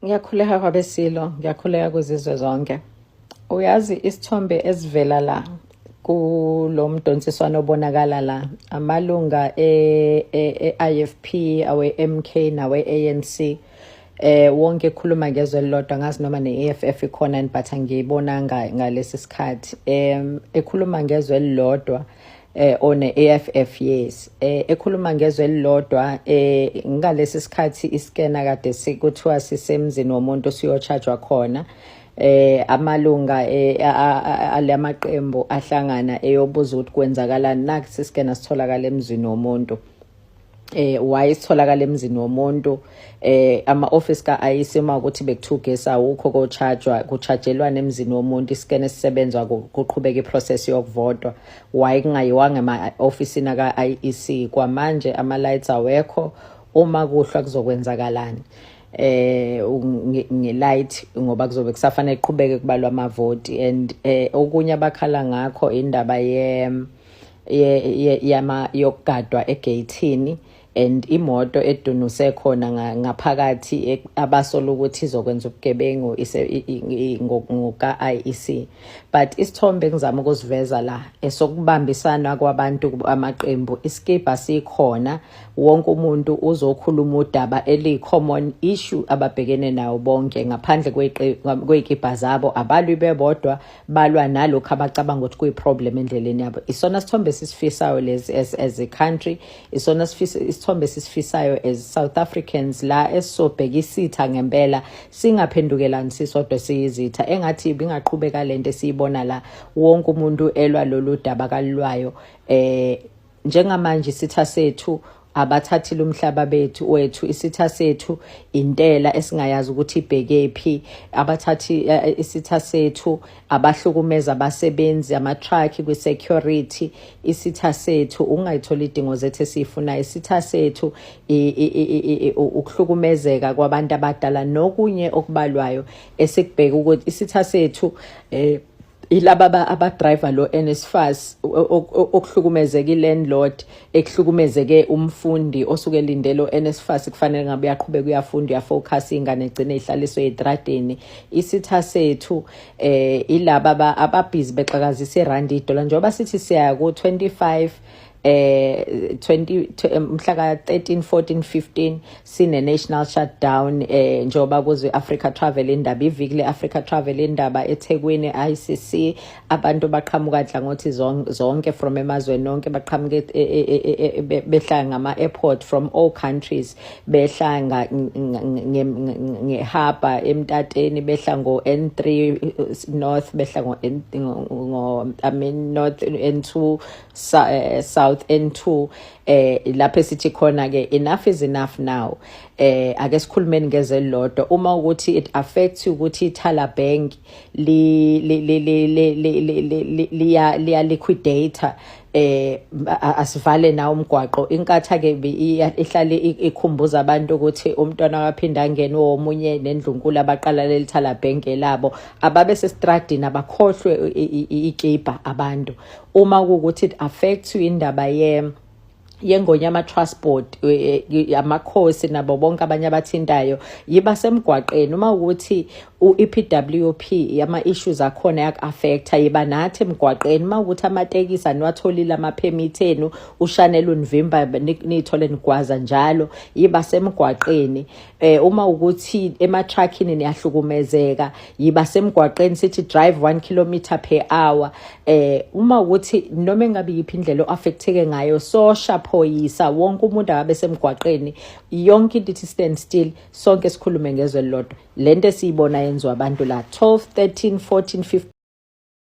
ngiyakhuleka kwabesilo ngiyakhuleka kuzizwe zonke uyazi isithombe esivela la kulo mdonsiswano obonakala la amalunga e-IFP e, e awe-MK nawe-ANC eh wonke ekhuluma ngezwe elilodwa ngazi noma ne-EFF ikhona but angiyibonanga ngalesi sikhathi em ekhuluma ngezwe elilodwa eh, eh one AFF yes eh ekhuluma ngezwe elilodwa eh ngalesi sikhathi iskena kade sikuthiwa sisemzini womuntu siyochargewa khona eh amalunga eh, alamaqembu ahlangana eyobuza ukuthi kwenzakalani nakuthi sikena sitholakala emzini womuntu eh wayesitholakala emzini womuntu eh ama office ka IEC uma ukuthi bekuthugesa awukho ko chargewa ku chargelwana emzini womuntu isikene sisebenza kuqhubeka iprocess yokuvotwa why kungayiwanga ema office na ka IEC kwamanje ama lights awekho uma kuhlwa kuzokwenzakalani eh ngelight ngoba kuzobe kusafanele kuqhubeke kubalwa amavoti and eh okunye abakhala ngakho indaba ye yama yokugadwa egeyithini and imoto edunuse khona ngaphakathi e, abasola ukuthi izokwenza ubugebengu ngoka-IEC but isithombe engizama ukusiveza la esokubambisana kwabantu amaqembu isikibha sikhona wonke umuntu uzokhuluma udaba eliyi-common issue ababhekene nawo bonke ngaphandle kwey'kibha zabo abalwi bebodwa balwa nalokhu abacabanga ukuthi kuyi-problem endleleni yabo isona sithombe esisifisayo lezi as, as a country isona isithombe esisifisayo as south africans la esisobheka isitha ngempela singaphendukelani sisodwa siyizitha engathi bingaqhubeka le nto esiyibona la wonke umuntu elwa lolu daba kalulwayo um eh, njengamanje isitha sethu abathathile umhlaba bethu wethu isitha sethu intela esingayazi ukuthi ibhekephi abathathi eh, eh, isitha sethu abahlukumeza abasebenzi ama-truck kwi-security isitha sethu ungayithola idingo zethu esiyifuna isitha sethu ukuhlukumezeka kwabantu abadala nokunye okubalwayo esikubheka ukuthi isitha sethu um ilaba abadriver lo NSFAS okuhlukumezeka ilandlord ekuhlukumezeke umfundi osuke elindele uNSFAS kufanele ngabe uyaqhubeka uyafunda uyafocus ingane igcine ihlaliswe edradeni isitha sethu eh ilaba ababhizi bexakazisa irandi idola njengoba sithi siya ku 25 eh 20 eh, mhla ka 13 14 15 sine national shutdown eh njoba kuzwe Africa Travel indaba iviki le Africa Travel indaba eThekwini ICC abantu baqhamuka nhlangothi zonke from emazweni onke baqhamuke e, e, e, behlanga ngama airport from all countries behlanga ngehaba emtateni behla ngo N3 north behla ngo N ngo I mean north N2 Eh, South N2 eh lapho sithi khona ke enough is enough now eh ake sikhulumeni ngezelodwa uma ukuthi it affects ukuthi ithala bank li li li li li liya liya liquidator eh asivale na umgwaqo inkatha ke ihlale ikhumbuza abantu ukuthi umntwana waphinda ngene omunye nendlunkulu abaqala lelithala bank labo ababe sestradini abakhohlwe ikipa abantu uma kuwukuthi it affects you indaba ye yengonya ama-transport e, e, amakhosi nabo bonke abanye abathintayo yiba semgwaqeni uma ukuthi u-epwp ama-issues akhona yaku-affecta yiba nathi emgwaqeni uma ukuthi amatekisi aniwatholile amaphemithi enu ushanele univimba niyithole nigwaza njalo yiba semgwaqeni eh uma ukuthi ema truckini niyahlukumezeka yiba semgwaqeni sithi drive 1 kilometer per hour eh uma ukuthi noma engabe yiphi indlela oaffecteke ngayo sosha phoyisa wonke umuntu akabe semgwaqeni yonke into ithi stand still sonke sikhulume ngezwe lodwa lento esiyibona yenziwa abantu la 12 13 14 15